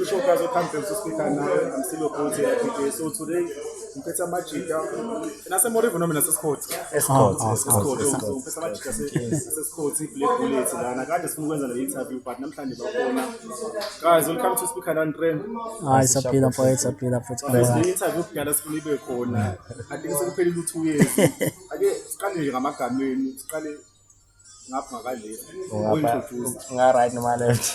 Showcase of Conference Speaker now. I'm still a coach at PJ. So today, ngiphethe amajita nasemorivo noma nasesikhothi Escort, Oh, oh, escort, Isikhothi, escort. so ngiphethe amajita ase- asesikhothi i-black bullets lana kade sifuna ukwenza le interview but namhlanje bakhona guys welcome to speaker and trend Hayi saphila mfowethu saphila futhi. le interview kudala sifuna ibe khona Kanti ke sekuphelile u-two years. Ake siqale nje ngamagameni, siqale ngapha ngakaleft. Uyintroduce. Nga-right noma left?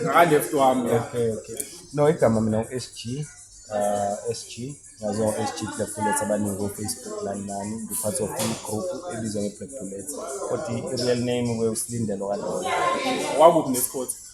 Ngakaleft wami. ya. Okay, okay. No, igama mina u-SG. Uh, SG. Ngaziwa ngo-SG Black Bullets abaningi ko-Facebook lani nani. Ngiphathi of i-group ebizwa nge-Black Bullets. Kodwa i-real name kwe uSlindelo Kalola. Wakuphi nesikhothi?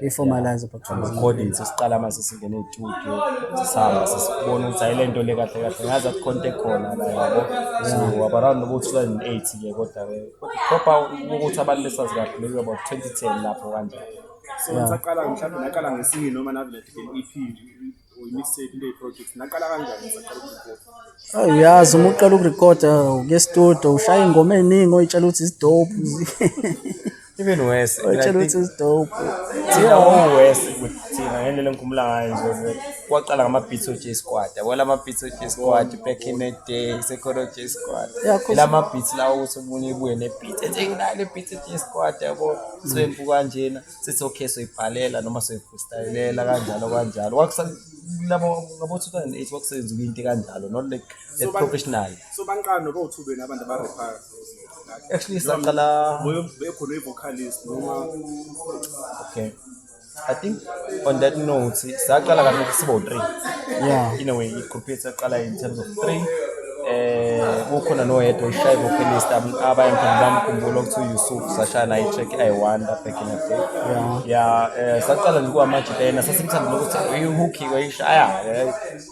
i-formalize recording sesiqala mase singene estudio sisihamba sesibona ukuthi ayile nto le kahle kahle ngazi athi khonto ekhona la yabo so wabaround nobo 2008 ke kodwa ke kodwa proper ukuthi abantu besazi kahle maybe about 2010 lapho kanjalo so ngisaqala mhlawumbe naqala ngesinye noma navele e nje Ayi uyazi uma uqala ukurekhoda uke studio ushaya ingoma eningi oyitshela ukuthi isidope. Even worse. Oyitshela ukuthi isidope. Thina worse ukuthi thina ngendlela engikhumula ngayo nje kwaqala ngama-beat o-j squad yabo la ma-beat o-j squad back in the day sekhona o-j squad ila ma-beat lawo ukuthi omunye ibuye ne-beat ethi ngilale beat o-j squad yabo swempu kanjena sithi okay soyibhalela noma soyifreestylela kanjalo kanjalo kwakusalabo ngabo-2008 kwakusebenza into kanjalo not like a professional so banqani noba uthubeni abantu abarephayo actually saqala bekhona i-vocalist noma okay I think on that note, saqala kahle sibo three. Yeah. In a way, i-group yethu yaqala in terms of three. um ukhona noyedwa ushaye vocalist abanye khona bamkhumbula okuthiwa uyusuf sashaya naye i-track i wonder back in the day ya um saqala nje kuwamanje lena sasimthandile ukuthi ihuki oyishaya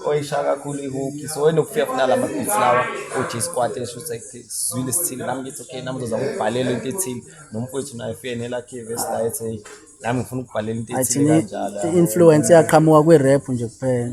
oyishaya kakhulu ihuki so enokufika funa la mabhithi lawa uj squad esho ukuthi sizwile sithile nami ngithi okay nami ngizozama ukubhalela into ethile nomfowethu naye fike nelakhe vesi la ethi heyi nami ngifuna ukubhalela into ethile kanjalo i-influence yaqhamuka kwi-rap nje kuphela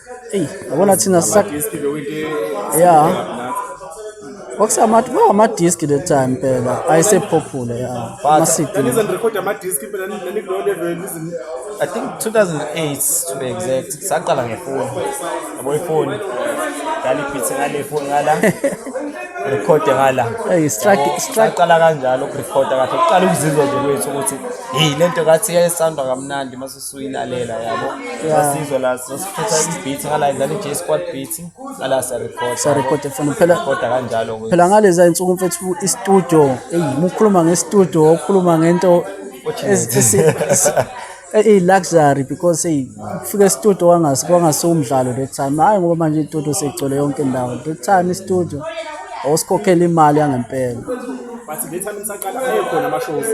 eyi yabona thina ya kwakusamati kwawamadiski le time mpela ayesephophulo ya ama-cd I think 2008 to be exact saqala ngefoni yabo ifoni ngaliphithe ngale foni ngala rekhode ngala hey strike strike qala kanjalo ukurekhoda kahle uqala ukuzizwa nje kwethu ukuthi hey lento kathi yayisandwa kamnandi mase suyilalela yabo sasizwa la sasifutha i-beat ngala idlala i-j squad beat ngala siyarecorda siyarecorda fana phela recorda kanjalo phela ngaleza insuku mfethu i-studio eyi mukhuluma nge-studio ukhuluma ngento eyi-luxury because eyi ukufika e-studio kwangasiwumdlalo that time hhayi ngoba manje i-studio seyigcwele yonke indawo that time i-studio osikhokhela imali yangempela bathi le time nisaqala ayekhona ama-shows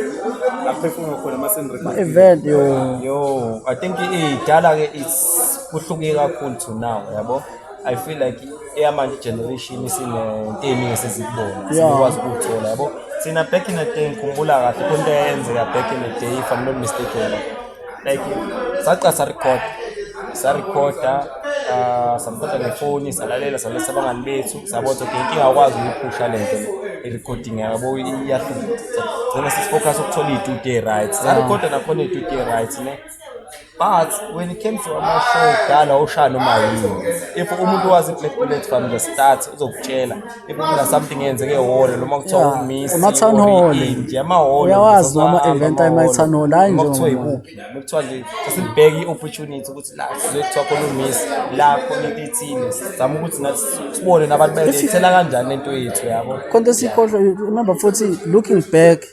aphefumula khona ama-event yo yo i think idala ke is kuhluke kakhulu to now yabo i feel like eyamanje generation isinento eningi esizikubona sikwazi ukuthola yabo thina back in the day ngikhumbula kahle konto eyenzeka back in the day if i'm not mistaken like saqala sarecord sarecorda uh, ah, samthatha ngefoni salalela salesa abangani bethu sabona ukuthi inkinga akwazi ukuyiphusha le nto i-recording yabo iyahlula gcina sisifocus ukuthola iy'tudio right sarecorda nakhona iy'tudio right ne but when it came to amashow dala oshaya noma yini if umuntu wazi i-black bullet from the start uzokutshela Iphumela something eyenzeke ehholo noma kuthiwa Yeah, ummisi ama-town or hall. inje amahholo Uyawazi noma event ama-town hall, hhayi nje kuthiwa ngoba- ikuphi noma kuthiwa nje sesibheke i-opportunity ukuthi la sizoye kuthiwa khona ummisi la khona into ethile sizama ukuthi nathi sibone nabantu bayilethela kanjani lento yethu yabo Khonto sikhohlwe remember futhi looking back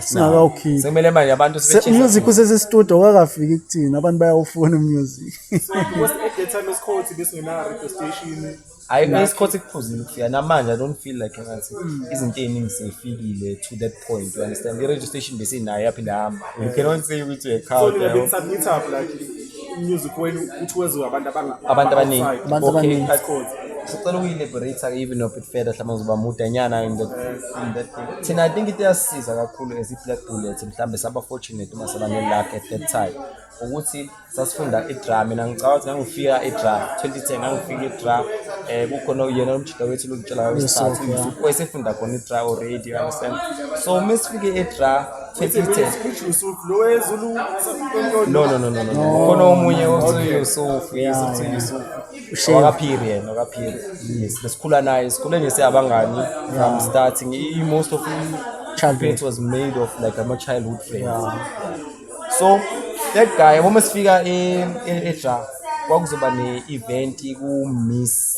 singakawukhiphi sekumele manje abantu music usesestudio wakafiki kuthina abantu bayawufuna umusic hayi kunesikhothi kuphuzile kufika namanje i don't feel like ngathi izinto ey'ningi seyifikile to that point you understand i-registration besinayo yaphinde hamba you cannot say ukuthi uyekhawu music wenu uthi weziwe abantu abanga Abantu abaningi. outside. Abantu Okay, abaningi. that's cool. sicela ukuyi-liberate even if it further mhlawumbe ngizoba mudanyana in that in that thing thina i think into eyasisiza kakhulu as i-black bullet mhlawumbe saba fortunate uma saba ne-luck at that time ukuthi sasifunda i-dra mina ngicabanga ukuthi ngangifika i-dra 2010 ngangifika i-dra um kukhona uyena umjida wethu lokutshela Yes, okay. wayesefunda khona i-dra already you understand so uma sifike i-dra no no no no no khona omunye osuyusuf yes osuyusuf wakaphiri yena wakaphiri yes besikhula naye sikhule nje siyabangani from start i most of childhood was made of like ama childhood friends so that guy uma sifika e, e, eja kwakuzoba ne-event ku-miss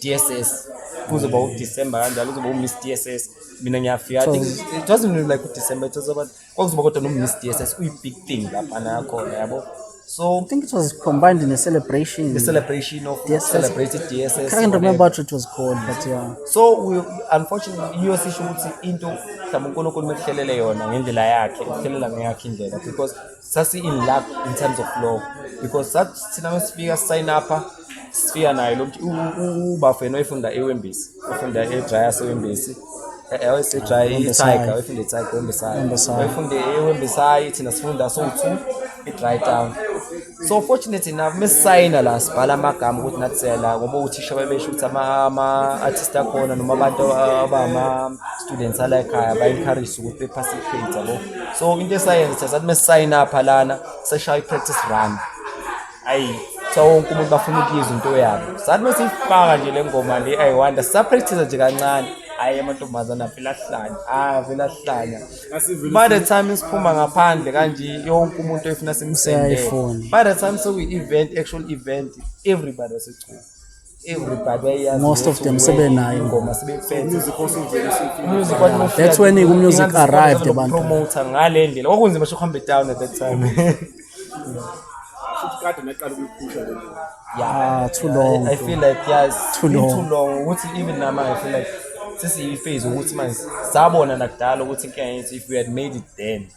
dss kuzoba udecember kanjalo kuzoba u-miss dss mina ngiyafika i think it wasn't really like udecember it was about kwakuzoba kodwa no-miss dss uyi-big thing lapha nakhona yabo so I think it was combined in a celebration. the celebration of Yes, yes. celebrated dss I can't remember what it was called, but yeah. so we, unfortunately yiyo sisho ukuthi into mhlawumbe unkulunkulu mekuhlelele yona ngendlela yakhe ukuhlelela ngeyakhe indlela because sasi in luck in terms of law because sathi thina mesifika sign up sifika naye lo ubafo yena oyifunda ewembisi ofunda edryas ewembisi awese dry itiger oyifunda itiger ewembisayo oyifunda ewembisayo thina sifunda sowu-two i-dry town so fortunate enough mesisayina la sibhala amagama ukuthi nathi siyala ngoba uthisha babesho ukuthi ama-artist akhona noma abantu abama students ala ekhaya ba-encourage ukuthi bephase i-grades yabo so into esayenza sathi uma sisayina apha lana seshaya i-practice run ayi kuthiwa wonke umuntu bafuna ukuyizwa into yabo sathi uma siyifaka nje le ngoma le ayiwanda sisapractise nje kancane hhayi amantombazane avele ahlanya hhayi avele ahlanya by the time siphuma ngaphandle kanje yonke umuntu efuna simsendele by the time sekuyi-event actual event everybody wasechuma most of them sebenayo ingoma that's when umusic arrived abantu promoter ngale ndlela kwakunzima sho kuhambe down at that time kade naqala ukuyiphusha le yeah too long i feel like yes too long too long ukuthi even nama i feel like sesiyiphase ukuthi manje sabona nakudala ukuthi inkinga yethu if we had made it then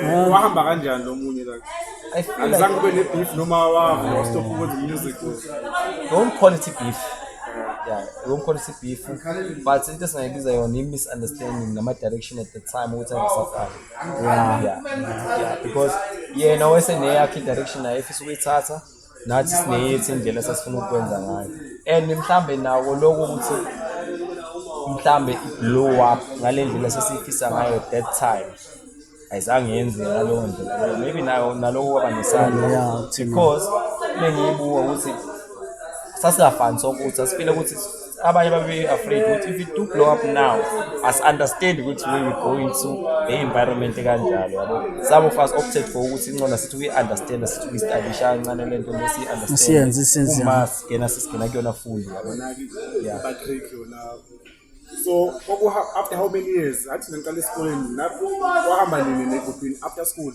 Eh, wahamba kanjani lo munye la I feel like angizange ube ne-beef noma wavele wastop ukwenza umusic don't call it beef. Yeah, don't call it beef. But into esingayibiza yona i-misunderstanding nama-direction at the time ukuthi angisafani. Yeah. Yeah. Because yena wayeseneyakhe i-direction naye efisa ukuyithatha nathi sineyethu indlela esasifuna ukukwenza ngayo and mhlambe nako lokho ukuthi mhlambe i-blow up ngale ndlela sesiyifisa ngayo that time ayizange yenzeka ngaleyo ndlela maybe nayo naloko kwaba nesandla because bengiyibuka ukuthi sasingafani sokuthi asifile ukuthi abanye babe-afraid ukuthi if it do blow up now asi-understand ukuthi we we go into e-environment ekanjalo yabo some of us opted for ukuthi incona sithi kuyi-understanda sithi kuyi-stadisha kancane le nto lesiyi-understanduma sigena sisigena kuyona fundi yabo ya so after how many years athi nangiqala esikoleni wahamba nini negruphini after school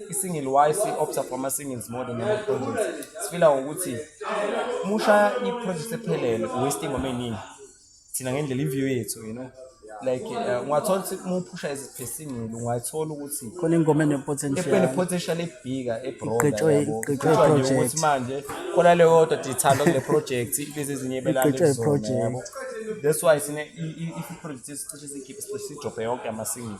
i-single y si-opta for ama-singles more than ama-projects sifila ukuthi uma ushaya i-project ephelele uwaste ingoma eningi thina ngendlela i-view yethu you know like uh, ungathola ukuthi uma uphusha eziphesingile ungayithola ukuthi khona ingoma enepotential ebhika ebroakuthi manje khona leyo yodwa dithanda kule project ibize ezinye ibelalezoyabo that's why sine i-project esicishe sikhiphe sicishe sijobhe yonke amasingle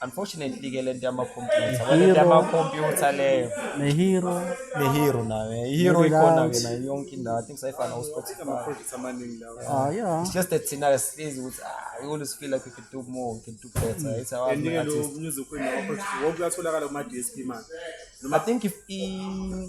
Unfortunately ke lento yama computer, lento yama computer leyo. Ne hero, ne hero nayo. Hero ikhona ke nayo yonke indawo. I think sayifana u Spotify. Ama projects amaningi lawo. Ah yeah. It's just that thina sihlezi ukuthi ah we always feel like we can do more, we can do better. Mm. It's our artist. And lo music wena project wonke uyatholakala kuma DSP manje. I think if i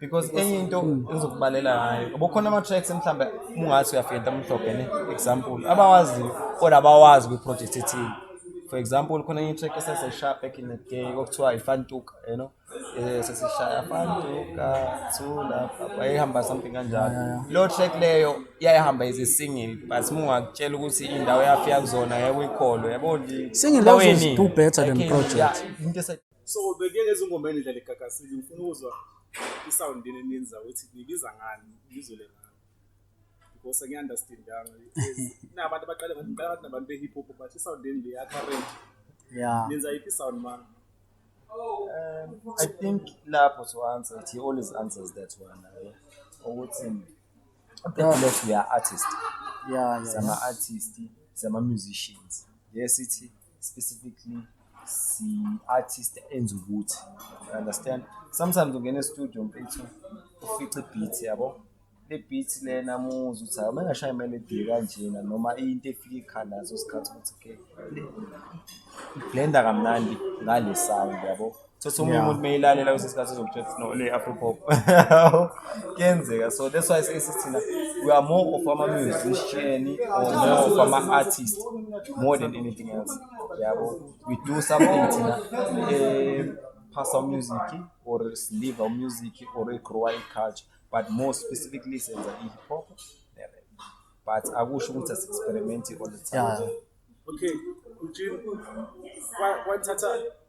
because enye into engizokubalela ngayo yabo khona ama-tracks mhlawumbe ungathi uyafika ntamhlophe ne example abawaziyo kodwa abawazi kwi-project ethile for example khona enye i-track esesesishaya back in the day okuthiwa ifantuka you know Eh, sesishaya fantuka thula wayehamba something kanjalo leyo track leyo yayihamba ize single but mungakutshela ukuthi indawo yafika kuzona yekuyikholwe yabo Singing loves is do better than project. into ese- so bekuye lezi ngoma enidlala egagasile ngifuna ukuzwa i-sound yini eninza ukuthi nibiza ngani ngizwele ngani because angiyi-understandanga nabantu abaqale ngathi ngiqala ngathi nabantu be-hip hop but i-sound yini le ya-current yeah nenza yiphi i-sound mani Um, I think lapho to answer it, he always answers that one. eh, Ukuthi because we are artists, yeah yeah, yeah. sama artists, sama musicians. Yes, ithi specifically si-artist enza ukuthi you understand sometimes ungena estudio mfethu ufice ibeat yabo le beat lena muzi ukuthi hayi mengashaya imelodi kanjena noma into efika ikhanda ngaso sikhathi ukuthi ke blenda kamnandi ngale sound yabo Sesi omunye Yeah. umuntu meyilalela kwesinye isikhathi uzokutshela ukuthi no le afro pop. Kuyenzeka. So that's why sesi thina we are more of ama musician or more of ama artist more than anything else. Yabo. We do something thina eh pass our music or live our music or grow our culture but more specifically senza i hip hop. ne rap. But akusho ukuthi as experiment all the time. Yeah. Okay, Eugene, wa- wathatha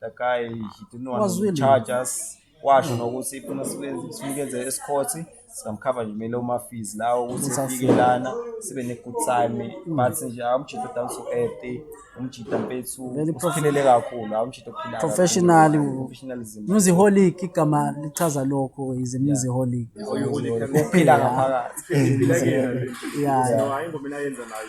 Takai, he didn't want Was to willing. charge us. Washo nokuthi ifuna sibe- sinikeze esikhothi singamkhava nje kumele uma-fees lawo ukuthi Ukuthi afike afike. lana sibe ne-good time but nje awumjita down to earth umjita mpethu Very prof- usiphilele kakhulu awumjita ophila Professionally, kakhulu. u- Professionalism. Musiholic igama lichaza lokho is a musiholic. Uphila ngaphakathi. Yeah. No, hayi ingoma enayenza nayo.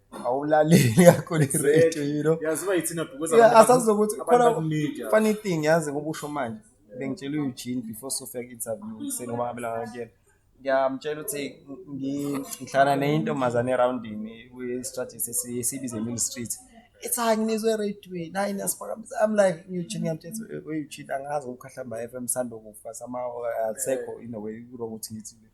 awulaleli kakhulu i-radio you know yazi uba yithina because Yeah, abantu- asazi ukuthi abantu khona bakunika. funny thing yazi ngoba usho manje bengitshela uEugene before sofika interview kuseni ngoba ngabela ngakuyena ngiyamtshela ukuthi ngi- ngihlala nenye intombazane erawundini kwi-strategy esiyibize mill street ithi hayi nginizwe eradweni hayi niyasiphakamisa i'm like uEugene ngiyamtshela ukuthi, "Eh, uEugene angazi ngokukhahlamba FM sandokufa sama asekho in a way kurong ukuthi ngithi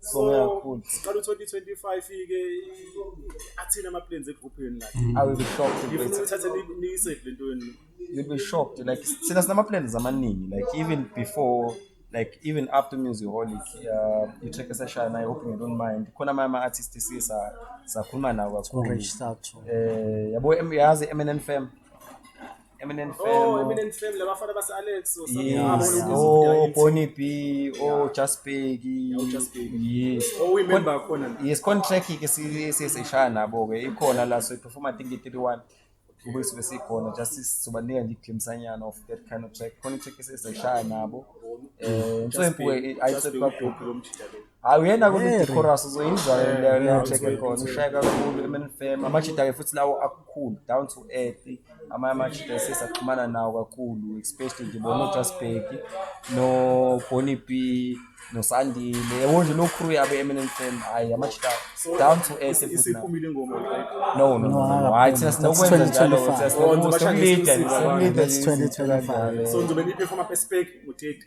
Sibonge kakhulu. Siqala u-2025 ike athina ama-plans egruphini like. I will be shocked if Ngifuna it's- ukuthatha ni- niyisave le nto yenu. you'll be shocked like thina sinama-plans amaningi like even before like even after music holic uh, i-track esashaya nayo hoping you don't mind khona amanye ama-artist esiye sa- sakhuluma nawo kakhulu Rich Thato. um yabo em- yazi i-mnn fam Eminent Oh, Fame, Eminent Fame labafana base Alex or something. Yes. Abone ukuthi Oh, izidinga ithi. Bonnie B, oh, Just Peggy. Yeah, uJust Peggy. Yes. Oh, we member khona la. Yes, contract ke si- si- sishaya nabo ke ikhona la so iperform I think i-31 kube sibe sikhona just sizobanika nje iglimpsanyana of that kind of track khona itrack esesishaya nabo eh Just nsoyimpu Peggy, Just Peggy, idrop udobhi lomjita lo. hayi uyena kule chorus uzoyizwa leyo track ekhona ushaya kakhulu emenfem amajita-ke futhi lawo akukhulu down to earth amanye amajita sesaxhumana nawo kakhulu especially nje bona ojasbek noboni b nosandile yabo nje lo crew yabo eminent fam hayi amajita down to earth isiphumile ingoma no no no hayi thina sinokwenza njalo ukuthi oh, sinokwenza 2025 so ngizobe ngiphefoma perspective ngitheti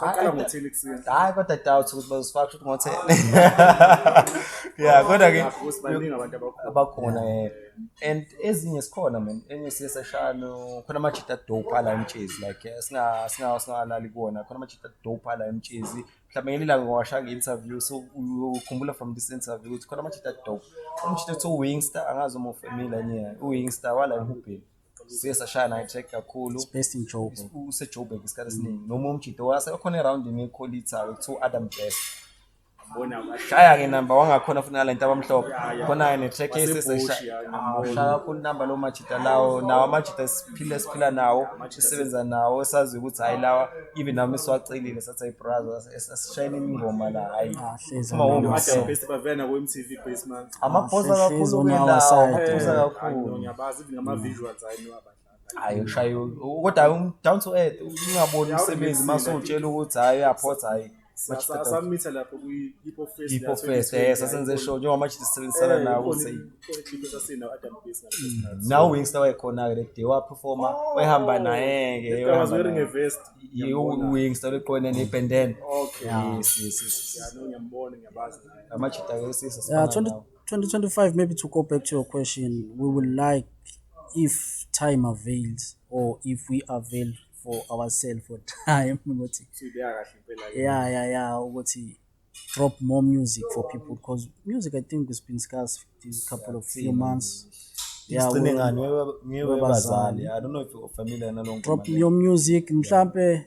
Saqala ngothini kusini. Hayi kodwa doubt ukuthi bazosifaka ukuthi ngothini. Yeah, kodwa ke Nakho sibaningi abantu abakhona. abakhona eh and ezinye sikhona man enye siye seshano khona ama cheetah dope ala emtshezi like eh, singa singa singalali kuona khona ama cheetah dope ala emtshezi mhlawumbe ngelinye ilanga ngowasha nge interview so ukhumbula from this interview ukuthi khona ama cheetah dope umcheetah to wingstar angazi uma ufamile yena uwingstar wala emhubheni siye sashaya naye track kakhulu best in Joburg use Joburg isikhathi esiningi noma umjito wase okhona eround ni Colita to Adam Best shaya ke number wangakhona futhi nalento abamhlophe khona ne track eseseshaya kakhulu number lo majita lawo nawo amajita siphile siphila nawo sisebenza nawo esazi ukuthi hayi lawa even nami siwacelile sathi hayi brother sishayile ingoma la hayi uma wonke bavena ku MTV basement amaphosa kakhulu kwendawo amaphosa kakhulu ngiyabazi even ama visuals hayi ngiwabadlala hayi ushaya kodwa um, down to earth ungaboni umsebenzi mase utshela ukuthi hayi uyaphotha hayi samitha lapho kwi-hippo fest hippo fest eh sasenze show njengoba manje sisebenzisana eh, nawo ukuthi clip sasinawo adam base mm. nawo wingsta wayekhona ke leday waperforma oh. wayehamba naye ke was wearing a vest wingsta leqone nebandana okay yes yes yes ngiyambona ngiyabazi amajita ke sisa Yeah, sifana 20, nawo 2025, maybe to go back to your question, we would like, if time avails, or if we avail for ourselves for time, ukuthi, Sibeka kahle impela ke. yeah, yeah, yeah, ukuthi drop more music for people, because music, I think, has been scarce these couple of few months. Yeah, Sigcine we- ngani Wewe- ngiwe webazali. bazali i don't know if you're familiar nalonke drop your music, mhlampe,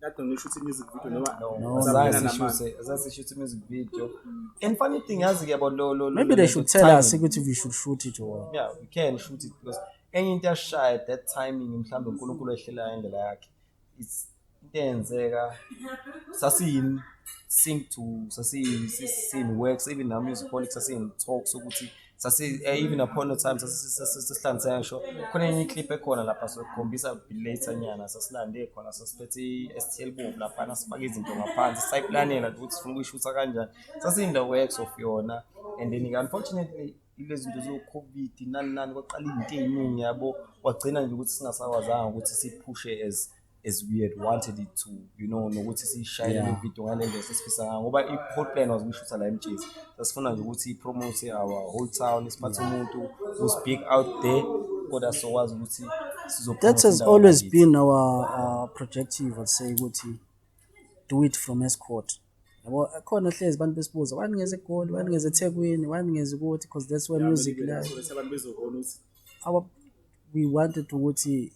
kade ngishuthi music video noma no zasishuthe music video and funny thing yazi ke yabo lo lo maybe they should tell us ukuthi we should shoot it or yeah we can shoot it because enye into yashaya that timing mhlawumbe uNkulunkulu ehlelayo indlela yakhe it's into eyenzeka sasiyini sync to sasiyini works even now music politics sasiyini talks ukuthi sasi eh, even upon the time sasisilande sasho khona enye clip ekhona lapha sokhombisa later nyana sasilande khona sasiphethe i-STL bomb lapha nasifaka izinto ngaphansi sayiplanela ukuthi sifuna ukuyishutha kanjani sasin the works of yona and then unfortunately lezi zinto zo-covid nani nani kwaqala izinto ey'ningi yabo kwagcina nje ukuthi singasakwazanga ukuthi siphushe as as we had wanted it to you know nokuthi siyishayele yeah. ivideo ngale ndlela sesifisa ngayo ngoba i-whole plan was ukuyishutha la emjezi sasifuna nje ukuthi ipromote our whole town isiphathe umuntu who's big out there kodwa sokwazi ukuthi that has always been our uh, projective i'd say ukuthi do it from escort yabo khona hlezi abantu besibuza wani ngeze egoli wani ngeze ethekwini wani ngeze ukuthi because that's where music lies we wanted ukuthi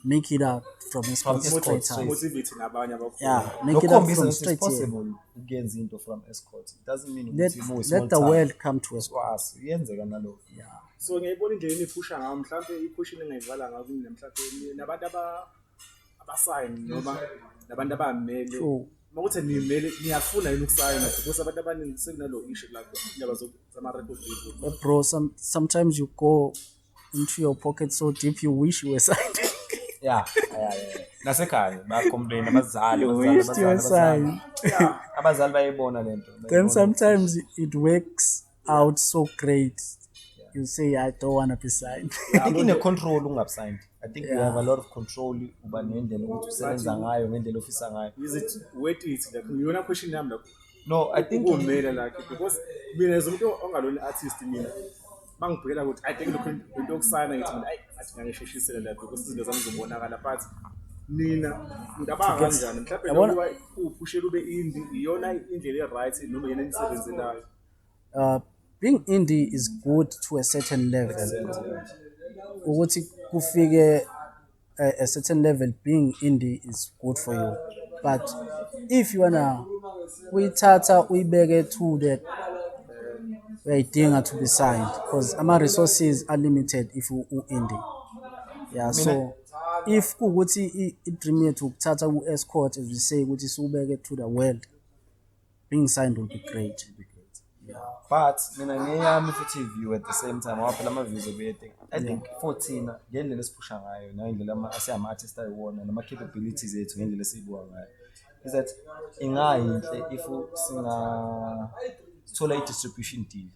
make it out from a From sports Escort straight straight. out. Motivate nabanye abakhona. Yeah, make it out Lokhombisa from ukuthi it's straight here. possible ukuyenza into from escort. It doesn't mean Let, ukuthi mu small let the town. world come to us. Sikwazi, iyenzeka nalokho. so ngiyayibona indlela eniphusha ngayo mhlawumbe iphusha ningayivala ngayo kini mhlawumbe nabantu aba abasayini noma nabantu abamele True. uma kuthi nimele niyafuna yini ukusayina because abantu abaningi sekunalo issue lapho indaba zama record label Eh, bro, some, sometimes you go into your pocket so deep you wish you were signed yeah yeah yeah nasekhaya bacomplain abazali you abazali, wish you were abazali, signed Yeah, abazali bayayibona lento then bayayibona. sometimes it works out so great you say i don't want to be signed I think ine control ungabe signed I think you have a lot of control uba nendlela ukuthi usebenza ngayo ngendlela ofisa ngayo Is it worth it? Like, ngiyona question yami lapho. no I think Ukumela like because mina as umuntu ongalona artist mina bangibhekela ukuthi i think lokhu into yokusayina ngithi mina ayi athi ngangisheshisele lapho ukuthi izinto zami zibonakala but mina ngicabanga kanjani mhlawumbe Yabona? nokuba uphushela ube indi iyona indlela e-right noma yena enisebenzelayo uh, being indie is good to a certain level ukuthi kufike a, a certain level being indie is good for you but if you wanna uyithatha uyibeke to that uyayidinga to be signed because ama-resources are limited if u- u-indie yeah so if kuwukuthi i- i-dream yethu ukuthatha ku-escort as we say ukuthi siwubeke to the world being signed will be great will be great yeah but mina ngeyami futhi view at the same time waphela ama views obuyete i think 14 ngendlela esiphusha ngayo ngendlela ama asiyama artist ayiwona nama capabilities ethu ngendlela esibuka ngayo is that ingayinhle if singa sithola i distribution deal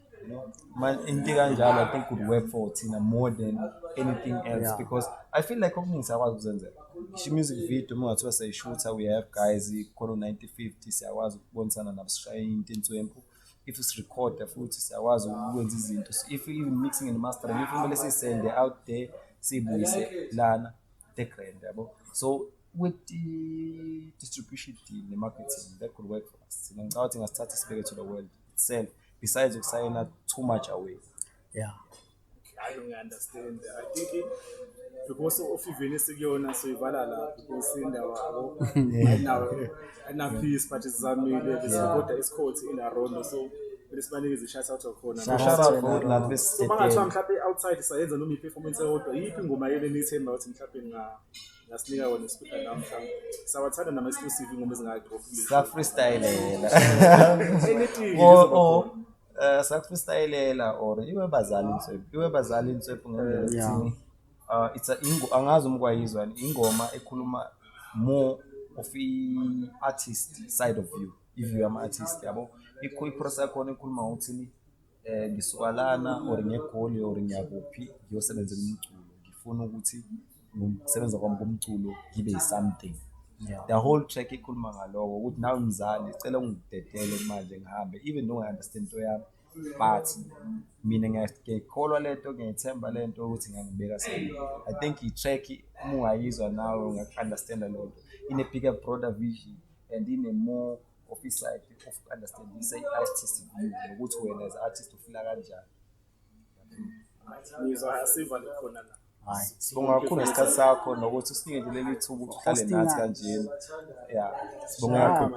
into kanjalo i think would work for thina more than anything else yeah. because i feel like okuningi siyakwazi ukuzenzela isho music video uma ungathiwa sayishutha we have guys khona u-90 50 siyakwazi ukubonisana nabo sishaye into inswempu if sirecorda futhi siyakwazi ukwenza izinto if even mixing and mastering if kumele siyisende out there siyibuyise lana the grand yabo so with the distribution deal ne-marketing that could work for us thina ngicabanga ukuthi ngasithatha sibeke to the world itself besides ukusayina too much away yeah hayi ngiyaunderstand i think it- because of even esikuyona soyivala la because indawo abo ayinawo ayinapeace but sizamile besikoda isikhothi in arondo so kumele sibanikeze i-shout out khona Shout shout out out for to la Lord. so bangathiwa mhlawumbe outside sayenza noma i-performance eyodwa yiphi ingoma yele niyithemba ukuthi mhlawumbe nga ngasinika wona isipika namhla sawathanda nama exclusive ingoma ezingaka drop kule sa freestylela anything o izoba o khona. eh, sa freestylela or iwe bazali inswephu iwe bazali inswephu ngendlela Yeah. ethini uh, it's a ingo angazi umkwayizwa ingoma ekhuluma more of i artist side of you if you am artist yabo ikho iprocess yakhona ekhuluma ngokuthini eh ngisuka lana or ngegoli or ngiyakuphi ngiyosebenzela umculo ngifuna ukuthi ngokusebenza kwami komculo ngibe something the whole track ikhuluma ngaloko ukuthi nawe mzali cela ungidedele manje ngihambe even though I understand into yami but mina ngiyakholwa lento ngiyayithemba lento ukuthi ngangibeka sami i think i-track uma ungayizwa nawe ungaku-understanda lento ine-bigger broader vision and ine-more of insight of understanding say artist view nokuthi wena as artist ufila kanjani ngizwa siva likhona la hayi sibonga kakhulu ngesikhathi sakho nokuthi usinike nje leli thuba ukuthi uhlale nathi kanjena ya sibonga kakhulu